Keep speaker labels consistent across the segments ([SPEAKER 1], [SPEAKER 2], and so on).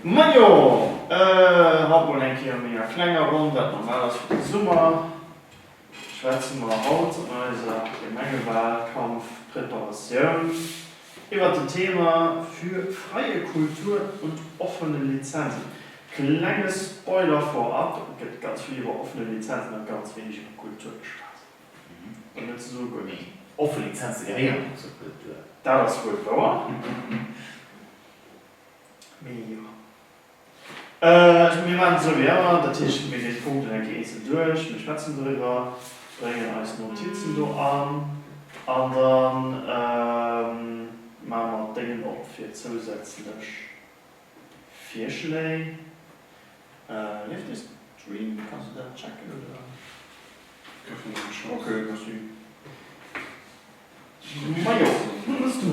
[SPEAKER 1] Majo, haut mol eng Kéier méi a klenger Ronn. Wat normal ass fir de Summer, schwätze mer haut an eiser Gemengewahlkampf-Preparatioun iwwert den Thema Für freie Kultur und offene Lizenzen. Klenge Spoiler vorab, Et gëtt ganz vill iwwer offene Lizenzen a ganz wéineg iwwer Kultur geschwat, fir net ze soe guer net. Offen Lizenze
[SPEAKER 2] gehéieren och zur Kultur, dat ass wuel wouer.
[SPEAKER 1] Mee jo. Mir maachen et esou wéi ëmmer, dat heescht, mir ginn d'Punkten eng Kéier eenzel duerch, mir schwätzen doriwwer, bréngen eis Notizen do an an da maache mer d'Déngen op fir zousätzlech Virschléi. Leeft de Stream? Kanns du dat checken oder? Gëffen eng Chance. Ok, merci. Majo, hues du.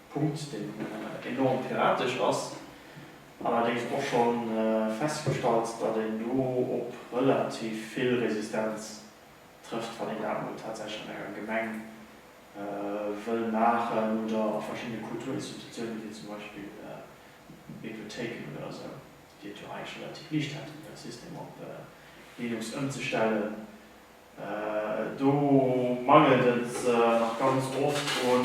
[SPEAKER 1] Punkt, deen enorm piratesch ass, allerdéngs och scho festgestallt, datt een do op relativ vill Resistenz trëfft, wann een dat emol tatsächlech an enger Gemeng wëll maachen oder a verschiddene Kulturinstitutiounen, wéi zum Beispill Bibliothéiken oder esou, déi et jo eigentlech relativ liicht hätten, hire System op Linux ëmzestellen. Do mangelt et nach ganz oft u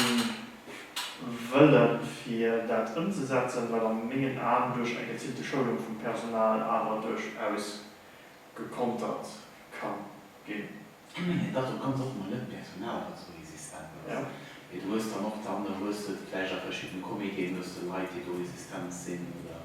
[SPEAKER 1] Wëlle fir dat ëmzesetzen, wat a mengen Aen duerch eng geziilte Schoulung vum Personal awer duerchaus gekontert ka ginn. Ech mengen dat op
[SPEAKER 2] ganz oft mol net d'Personal wat esou resistent ass, mee du
[SPEAKER 1] hues dann och,
[SPEAKER 2] dann hues de vläicht a verschiddene Comitéen hues de Leit déi do resistent sinn oder.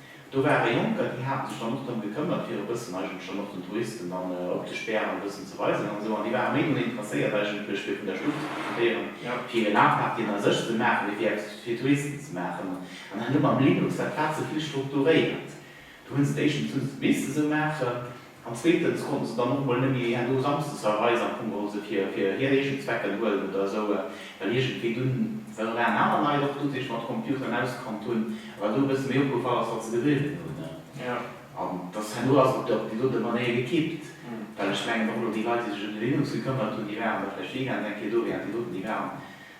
[SPEAKER 2] Do ware Jonker, déi hate sech dann och drëm gekëmmert, fir e bëssen eigentlech dann och den Touristen dann opzespären, e bëssen ze weisen an esou. An déi ware méi drun interesséiert eigentlech, fir vun der Stad ze profitéieren, fir hir Napartyen a sech ze maachen, wéi fir eppes fir d'Touristen ze maachen. An dann huet mer am Linux dat Plaze vill strukturéiert. Do hu se et éischtens hu se et misst esou maachen. An zweetens konnte se dann och emol nëmme hir do samsdes a Reis an Kummer hu se fir hir eegen Zwecken huelen oder esou, well iergendwéi dunn well op ären aner Leit och du sech mat Computeren auskannt hunn, a well do e bësse méi opgefall ass, wat se geduerften hunn. An dass herno ass et op déi dote Manéier gekippt, well ech mengen och elo déi Leit, déi sech ëm de Linux gekëmmert hunn, déi waren da vläicht weekends eng Kéier do, wärend déi doten, déi waren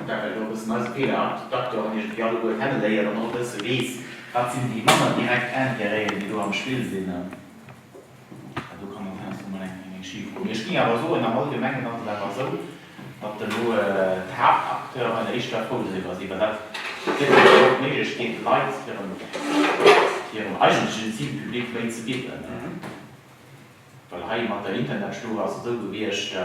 [SPEAKER 2] An dat well do e bëssen eise Peter, de Doctor an iergendwéi alleguer kenneléiert an och e bësse weess, wat sinn déi manner direkt Intérêten, déi do am Spill sinn. An do kann dann heiansdo mol eng Kéier schif goen. Mee ech géing awer soen, am Allgemengen ass et awer esou, datt elo d'Haaptacteuren éischter frou doriwwer sinn, well dat gëtt hinnen dann och d'Méiglechkeet, de Leit hirem eigentlechen Zilpublic méi ze bidden. Well hei mat der Internetstur ass et esou gewiescht,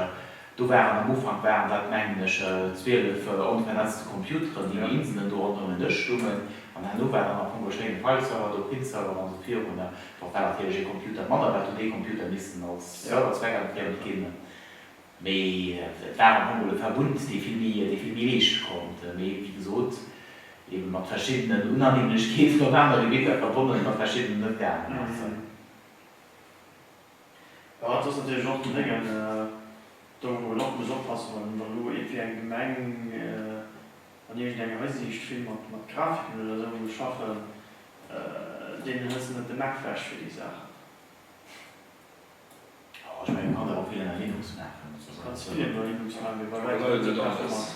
[SPEAKER 2] do waren, am Ufank waren dat mengen ech 12 onvernetzte Computeren, déi wéi Inselen do ronderëm en Dësch stungen. An herno war dann am Fong e schéine File-Server do, Print-Server an esou virun. Dach war natierlech ee Computer manner, well et huet ee Computer missen als Server zweckentfremd ginn. Mee et war am Fong emol e Verbund, dee vill méi, dee vill méi leeschte konnt. Mee wéi gesot, ebe mat verschiddenen Unannehmlechkeeten op aner Gebitter verbonnen, datt verschiddenes net gaangen ass.
[SPEAKER 1] Jo, dat ass natierlech och den Déngen, do wou een och muss oppassen, wann een dann elo ee fir eng Gemeng an iergend enger Hisiicht vill mat Grafiken oder esou muss schaffen, deenen hëlls de net de Mac wech fir déi Saachen.
[SPEAKER 2] Jo, ech mengen, et kann ee och vill ënner Linux maachen. Kannst vill ënner
[SPEAKER 1] Linux maachen, mee bei Wäitem net dat Bescht.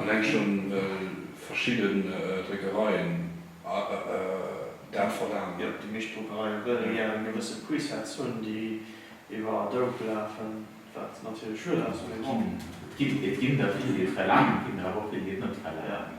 [SPEAKER 1] Alleng
[SPEAKER 3] schonn well verschidden Dréckereien dat verlaangen. Jo, déi meescht Druckereie
[SPEAKER 1] wëllen gär eng gewësse Presets hunn, déi iwwer Adobe lafen, wat natierlech schued ass, mee bon.
[SPEAKER 2] Et ginn der vill, déi et verlaangen, et ginn der awer och vill, déi et net verlaangen.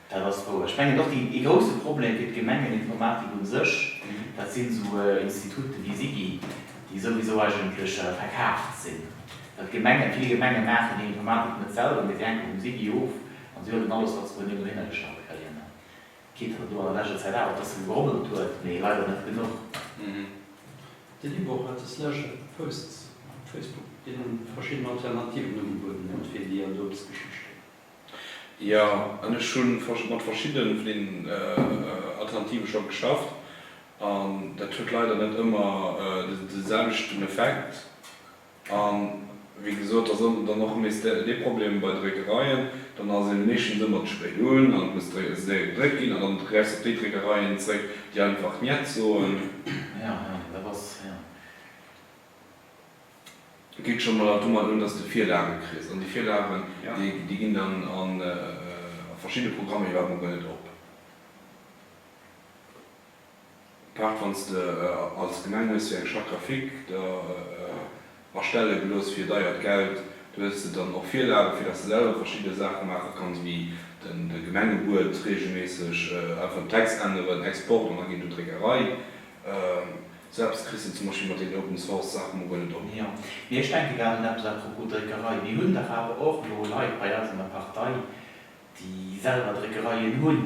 [SPEAKER 3] Dat ass wouer. Ech
[SPEAKER 2] mengen och, ee grousse Problem fir d'Gemengeninformatik un sech, dat sinn esou Instituten wéi SIGI, déi souwisou eigentlech verkaaft sinn. Well Gemengen, vill Gemenge maachen hir Informatik net selwer, mee si hänke vum SIGI of an si huelen alles, wat se doniewent dohinnergestallt kréien. Kritt der et elo an der leschter Zäit awer, dass se gegrommelt huet, mee leider net genuch.
[SPEAKER 4] De Libor hat des leschte Posts op Facebook, deen verschidden Alternativen ugebueden huet fir déi an d'Obstgeschicht. Jo,
[SPEAKER 3] an ech hu mat verschiddene vun deenen Alternative scho geschafft, an dat huet leider net ëmmer de selwechten Effekt. A wéi gesot, da soll een dann och nees dee Problem bei Dréckereien, dann ass ee meeschtens ëmmer ze spéit un an et muss séier gedréckt ginn, an dann gräifs de op déi Dréckereien zréck, déi einfach njet soen. Et geet scho mol domat un, dass de Virlage kriss. An déi Virlagen, déi ginn dann a verschidde Programmer iwwerhaapt mol guer net op. Apaart wann s de als Gemeng hues fir eng Charte graphique der erstelle gelooss fir deiert Geld, do hues de dann och Virlagen, fir dass de selwer verschidde Saache maache kanns, wéi de Gemengebuet reegelméisseg einfach den Text änneren, Export an da ginn do Dréckerei. Sou eppes kriss de zum Beispill mat den Open Source Saachen mol guer net op. Jo, mee ech denken
[SPEAKER 2] grad un eppes à propos Dréckerei. Mir hunn dach awer och elo Leit bei eis an der Partei, déi selwer Dréckereien hunn.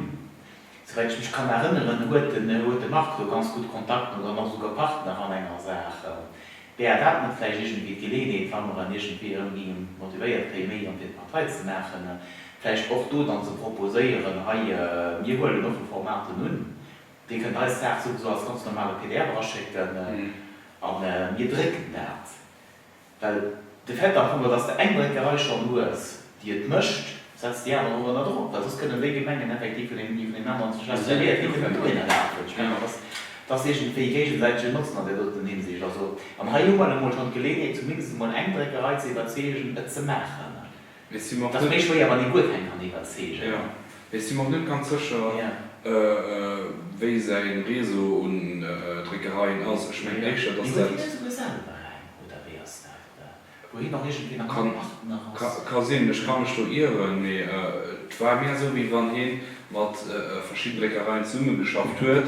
[SPEAKER 2] Souwäit ech mech kann erënneren, huet de Marc do ganz gutt Kontakten oder ass och esouguer Partner an enger Saach. Wär dat net vläicht iergendwéi d'Geleeënheet, wa mer en iergendwéi erëm géinge motivéiert kréie méi an fir d'Partei ze maachen, vläicht och do dann ze proposéieren, hei, mir huelen offe Formaten un, Dir kënnt eis d'Saach souwisou als ganz normale pdf eraschécken a mir drécken dat. Well de Fait am Fong ass, dass de eng Dréckerei schonn hues, déi et mécht, setz déi aner och ënner Drock. Well soss kënnen déi Gemengen effektiv vun engem iwwer deen aneren zerschlagzeréiert ginn, déi kënnen do een erlaabt hunn. Ech mengen, dat ass, dat ass iergendwéi géigesäitegen Notzen an där doten Hinsicht. Also, an hei hu mer emol schonn d'Geleeënheet, zumindest emol eng Dréckerei ze iwwerzeegen, et ze maachen. Mee si mer och net. Dat ass méi
[SPEAKER 3] schwéier,
[SPEAKER 2] wann ee guer
[SPEAKER 3] keng
[SPEAKER 2] kann iwwerzeegen. Jo, mee si mer och net
[SPEAKER 3] ganz
[SPEAKER 2] sécher,
[SPEAKER 3] wéi säi Réseau un Dréckereien ass. Ech mengen éischter, dass dat. Mee huet hien net souguer selwer eng, oder wéi ass dat? Oder wor hien och iergendwéi nach am Partners? Ka sinn, ech ka mech do ieren, mee et war mär esou, wéi wann hie mat verschidden Dréckereien zesummegeschafft huet,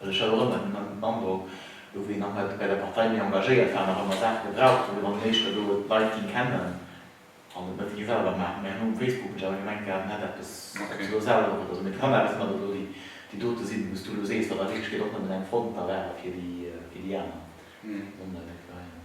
[SPEAKER 2] Also ech hat och ëmmer den Androck, do wou een nach net bei der Partei méi engagéiert war, nach ëmmer Saache gebraucht huet, wann een éischter do d'Leit géing kennen an et net ee selwer maachen. Mir hunn och um Facebook mech awer gemengt, gehat, en hätt eppes, ob se elo selwer och net. Also mir kann awer net ëmmer elo déi dote sinn, wou s du elo sees, wat a Wierklechkeet och nëmmen eng Front da ware fir déi aner Sonndäiweg-Veräiner.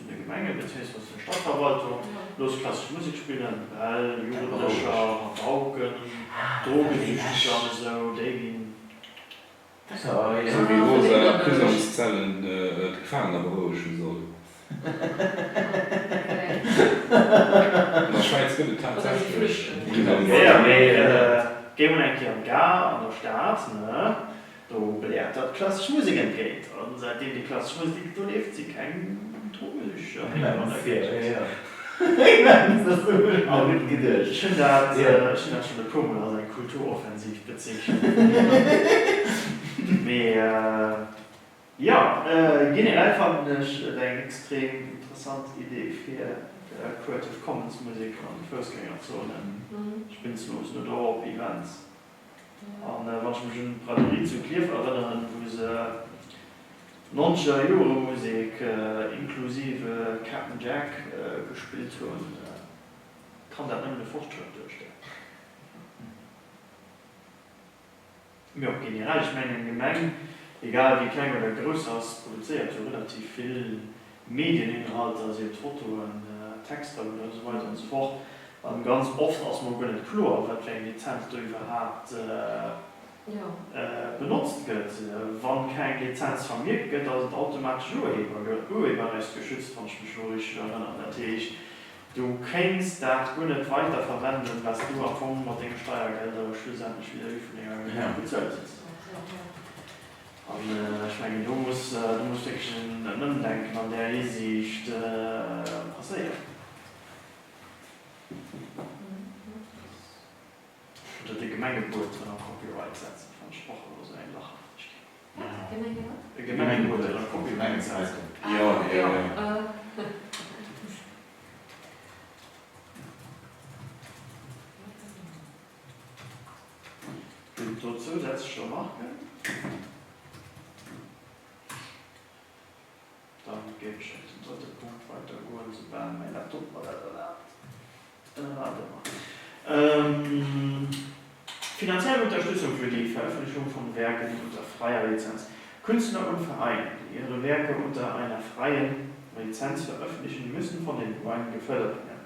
[SPEAKER 1] Vun de Gemengen bezéiungsweis der Stadverwaltung looss klassesch Musek spillen, well Jugendlecher rauken, drogesüchteg an esou, déi ginn
[SPEAKER 2] esou wéi rosa
[SPEAKER 3] Prisongszellen d'Gefaangener berouegen soll. An der Schwäiz gëtt et tatsächlech Prisongszellen. Jo,
[SPEAKER 1] mee géi mol eng Kéier an d'Gare an der Stad, ne? Do beläert dat klassesch Musek entgéint, a säitdeem déi klassesch Musek do leeft, si keng Drogesüchtiger
[SPEAKER 2] méi hei an der Géigend. Ech hunn dat
[SPEAKER 1] schonn e puer Mol als eng Kulturoffensiv bezeechent. Mee jo, generell fannen ech et eng extrem interessant Idee fir Creative Commons Musek an de Foussgängerzonen, spinnslos, oder och op Events. A wann ech mech un d'Braderie zu Klierf erënneren, wou se 90 er Jore Musek inklusive Cap'n Jack gespillt hunn, kann dat nëmmen e Fortschrëtt duerstellen. Mee och generell, ech mengen eng Gemeng, egal wéi kleng oder grouss se ass, produzéiert jo relativ vill Medieninhalter, sien et Fotoen, Texter oder esou weider an esou fort, an ganz oft ass mol guer net kloer wat fir eng Lizenz do iwwerhaapt benotzt gëtt. Wann keng Lizenz vermierkt gëtt ass et automatesch ureberrechtsgeschützt, wann ech mech elo richteg erënnern. Dat heescht du kéints dat guer net weider verwenden wat s du am Fong mat denge Steiergelder schlussendlech vis-à-vis vun denger Gemeng bezuelt hues. An ech mengen, do muss wierklech en Ëmdenken an där Hisiicht passéieren. Oder de Gemengebuet ënner Copyright setzen, fannen ech och ëmmer esou eng lacherhafteg Kéier. E Gemengebuet ënner Copyright setzen? Jo, jo, jo. Een puer zousätzlech Remarken, dann géif ech op den drëtte Punkt weitergoen, esoubal mäi Laptop mer dat erlaabt. Ënner anerem, finanziell Unterstützung für die Veröffentlichung von Werken unter freier Lizenz, Künstler und Vereine, die ihre Werke unter einer freien Lizenz veröffentlichen, müssen von den Gemeinden gefördert werden.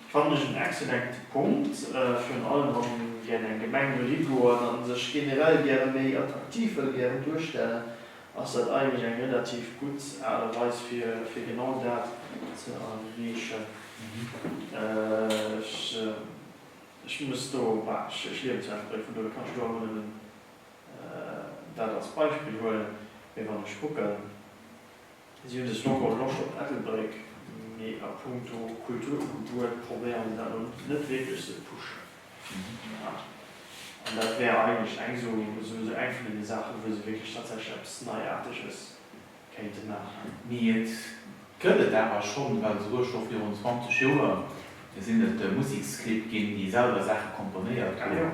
[SPEAKER 1] Fannen ech en excellente Punkt, virun allem wann een gären eng Gemeng wëll higoen an sech generell gären méi attraktiv wëll gären duerstellen, ass dat eigentlech eng relativ gutt Aart a Weis fir fir genau dat ze erreechen. Ech ech muss do, bah ech ech liewen zu Ennebrëck, vun dohier kann ech do emol nëmmen dat als Beispill huelen, mee wann ech kucken, Si hunn sech dono erlosch op Ettelbréck, mee a punkto Kultur um Gebuert probéieren se dat elo net wierklech ze pushen. An dat wär eigentlech eng esou esou eng vun deene Saachen, wou se wierklech tatsächlech eppes Neiaarteges kéinte maachen. Mee et
[SPEAKER 2] gëtt et awer schonn, well esouguer scho virun 20 Joer sinn et Museksclibb ginn, déi selwer Saache komponéiert hunn.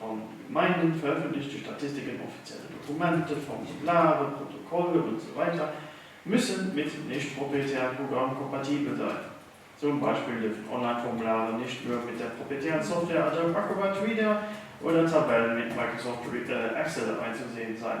[SPEAKER 1] An meinen Hunn veröffentlecht déi Statistiken offizielle Dokumente, Formulare, Protokolle und so weiter müssen mit nicht proprietären Programmen kompatibel sein. Zum Beispill dürfen Online-Formulare nicht nur mit der proprietären Software Adobe Acrobat Reader oder Tabellen mit Microsoft Excel einzusehen sein.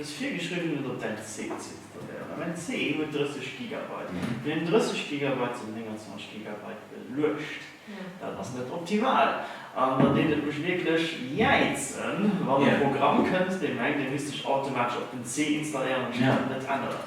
[SPEAKER 1] Dës virgeschriwwen huet op dein C z'installéieren a mäin C huet 30 Gigabyte. Wann een 30 Gigabyte zu den 29 Gigabyte beluecht, dat ass net optimal an da deet et mech wierklech jäizen, wann e Programm kënnt, dee mengt, e misst sech automatesch op den C installéieren an d'Stad net änneren.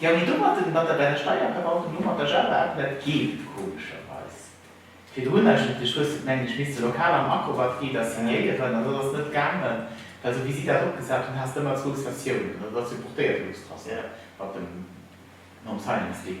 [SPEAKER 1] Jo
[SPEAKER 2] mee do mat den mat der bei der Steierverwaltung do mat der Jauwelt dat geet komescherweis. Virdrun eigentlech hues de et mengen ech misste lokal am Accobat fir iwwer signéieren an dat ass net gaangen well sou wéi si dat opgesat hunn haas de ëmmer zwou Sessiounen an dat ass jo portéiert Luxtrasseure mat dem nom Signing Stick.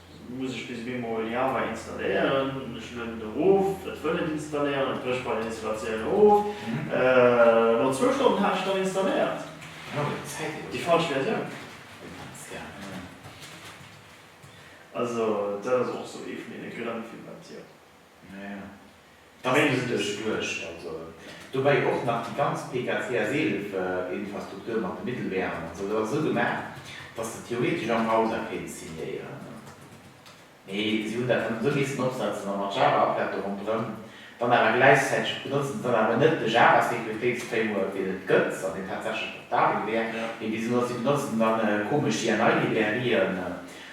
[SPEAKER 1] Muss ech bis ewéi mol Java installéieren? Ech lueden et erof, et wëll net installéieren, et brécht bei der Installatioun of. No zwou Stonnen hat ech et dann installéiert, déi falsch Versioun. Also dat ass och sou ee vun deene grënn fir wat jo.
[SPEAKER 2] Naja, da mengen ech dech duerch. Also dobäi och nach déi ganz PKCS-11-Infrastruktur mat de Mittelweeren an esou, dat ass esou gemaach, dass de theoretesch am Browser kéints signéieren. Mee si hunn dat dann esou missen opsetzen, a mat Java-Applete ronderëm. Dann awer gläichzäiteg benotzen se dann awer net de Java-Securitéits-Framework, deen et gëtt an deen tatsächlech portabel wär, mee bis elo, si benotzen dann komesch JNI-Librairien.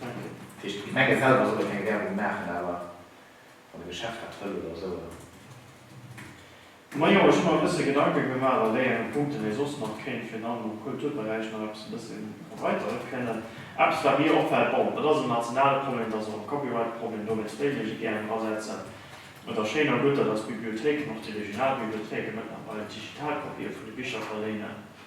[SPEAKER 2] Dat heescht, d'Gemenge selwer solle keng Werbung maachen, awer wann e Geschäft dat wëll oder esou, oder?
[SPEAKER 1] Majo, ech hu mer e bësse Gedanke gemaach a wéi enge Punkten ee soss nach kéint fir dann am Kulturberäich nach eppes e bësse erweiteren kënnen. Eppes wat mir opfält, bon, et ass en nationale Problem, et ass och e Copyright-Problem, do wéilt d'EU sech gären drasetzen. Et ass schéin a gutt, datt eis Bibliothéiken, och déi regional Bibliothéiken, mëttlerweil digital Kopië vun de Bicher verléinen.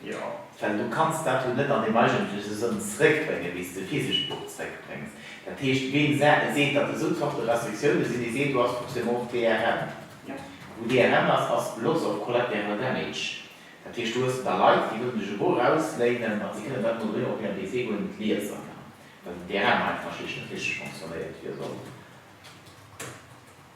[SPEAKER 2] Jo, well
[SPEAKER 1] du kanns dat
[SPEAKER 2] jo net an dem eigentleche Sënn zréckbréngen, wéi s de physescht Buch zréckbréngs. Dat heescht, ween seet, datt esou Zorte Restriktioune sinn, dee seet, do ass forcément och DRM. Wou
[SPEAKER 1] DRM ass,
[SPEAKER 2] ass Loss of Collateral Damage. Dat heescht, do hues de da Leit, déi wëllen dech e Buch ausléinen, ma si kënnen dat emol doheem op hirem PC guer net liesen, well den DRM einfach schlicht net richteg fonctionnéiert, wéi e soll.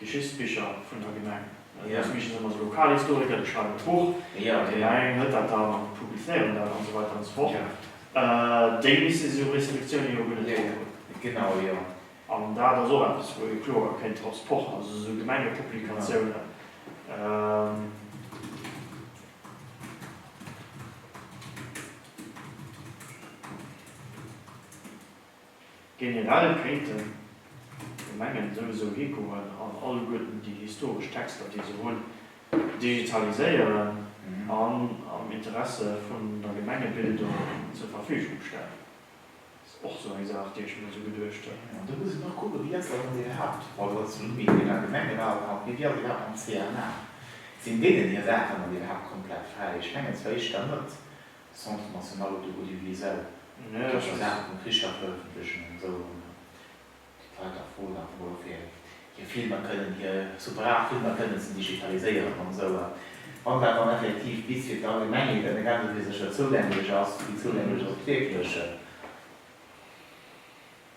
[SPEAKER 1] Geschichtsbicher vun der Gemeng. Dës Bicher sinn ëmmer esou Lokalhistoriker, déi schreiwen e Buch, déi eng net
[SPEAKER 2] dat
[SPEAKER 1] an an publizéieren dat an esou weider an esou fort. Déi misste si esou Reselektiounen jo guer net drohunn. Genau, jo.
[SPEAKER 2] An dat ass
[SPEAKER 1] och eppes, wou ee kloer kéint drop pochen, also esou Gemengepublikatiounen. Generell kéinten d'Gemengen souwisou higoen an alleguerten déi historesch Texter, déi se hunn, digitaliséieren an am Interesse vun der Gemengebildung zur Verfügung stellen. Dat ass och esou eng Saach, déi ech mir esou geduecht hunn. An do muss een och kucken, wéi
[SPEAKER 2] ass dat an den Haaptautonomie vun der Gemenge bal haut, mee wéi ass et iwwerhaapt am CNA? Sinn deenen hir Saachen dann iwwerhaapt komplett fräi? Ech mengen zwar éischter net. Centre National op der Audiovisuelle, déi och scho Saache
[SPEAKER 1] vum Tricher
[SPEAKER 2] verëffentlechen an esou erëm déi Leit da froen, einfach mol och fir hir Filmer kënnen, hir sou brav Filmer kënnen ze digitaliséieren an esou. A wann dat dann effektiv bis fir d'Allgemengheet an egal wou fir sech da zougänglech ass, wéi zougänglech ass et wierklech?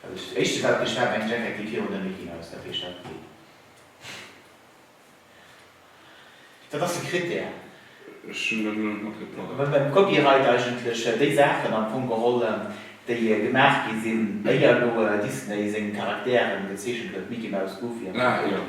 [SPEAKER 2] Dat éischte wat mech dat mengt ech effektiv virun der Mickey Maus dat wéi ech dat gesinn hunn. Dat ass e Krittär. Ech hunn dat elo net matgepackt. Well beim Copyright eigentlech déi Saachen am Fong geholl déi gemaach gi sinn éier elo Disney seng Charakteren gezeechent huet, Mickey Maus, Goofy an esou weider.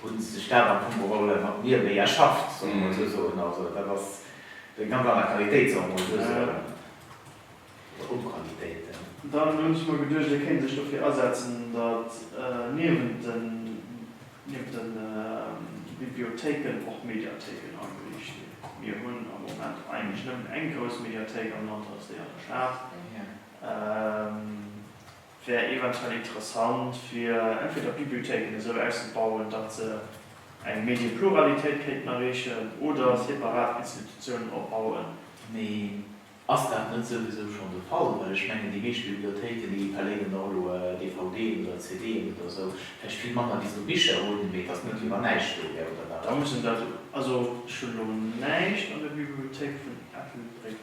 [SPEAKER 2] Hunn se sech dat am Fong geholl mat mir méi erschafft, solle mer mol esou soen. Also dat ass eng ganz aner Qualitéit, solle mer mol esou soen, oder Onqualitéit. Dann hunn ech
[SPEAKER 1] mer geduecht, hie kéint sech dofir asetzen, datt niewent den Bibliothéiken och Mediathéiken ageriicht ginn. Mir hunn am Moment eigentlech nëmmen eng grouss Mediathéik am Land, dat ass déi an der Stad. Wär eventuell interessant fir entweder Bibliothéiken esou auszebauen, datt se eng Medienpluralitéit kéinten erreechen oder separat Institutiounen opbauen. Mee
[SPEAKER 2] ass dat net souwisou schonn de Fall? Well ech mengen, déi meescht Bibliothéiken, déi verléinen och elo DVDen oder CDen oder esou, vläicht vill manner wéi se do Bicher hunn, mee datt net iewer näischt do wär, oder wat? Da muss een dat,
[SPEAKER 1] also ech hunn elo näischt an der Bibliothéik vun Ettelbréck.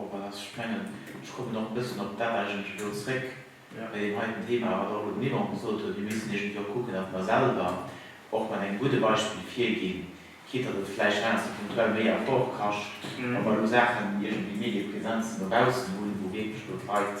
[SPEAKER 2] Wow, wat ass sprengen. Ech kommen och e bëssen op dat eigentlech elo zréck, bei deem heiten
[SPEAKER 1] Thema,
[SPEAKER 2] wat och elo den Yvon gesot huet, mir missten iergendwéi och kucken, datt mer selwer och mat engem gudde Beispill virginn, quitte datt et vläicht heiansdo punktuell méi Effort kascht, wa mer elo Saachen, iergendwéi Mediepräsenzen no baussen hunn, wou wierklech elo d'Leit,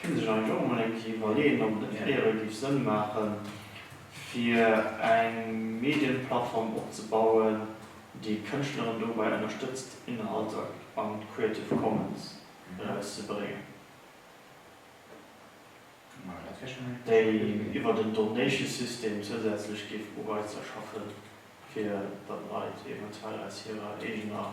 [SPEAKER 1] Kéint een sech eigentlech och emol eng Kéier iwwerleeën, ob et net fir éiere géif Sënn maachen, fir eng Medienplattform opzebauen, déi d'Kënschtleren dobäi ënnerstëtzt, Inhalter an d'Creative Commons erauszebréngen, déi iwwert en Donation-System zousätzlech géif Ureizer schaffen, fir datt Leit eventuell aus hirer eegener.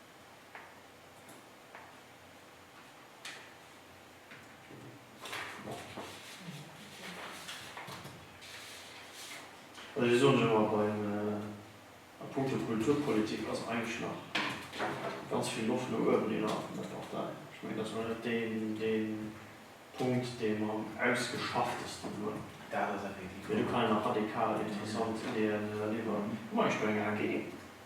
[SPEAKER 1] Ech soen lech awer, beim, a puncto Kulturpolitik ass eigentlech nach ganz vill Loft no uewen innerhalb vun der Partei. Ech mengen, dass mer net dee Punkt, dee mer am ausgeschafftesten hunn, mee do
[SPEAKER 2] kann een nach radikal
[SPEAKER 1] interessant Ideeën eriwwer bréngen.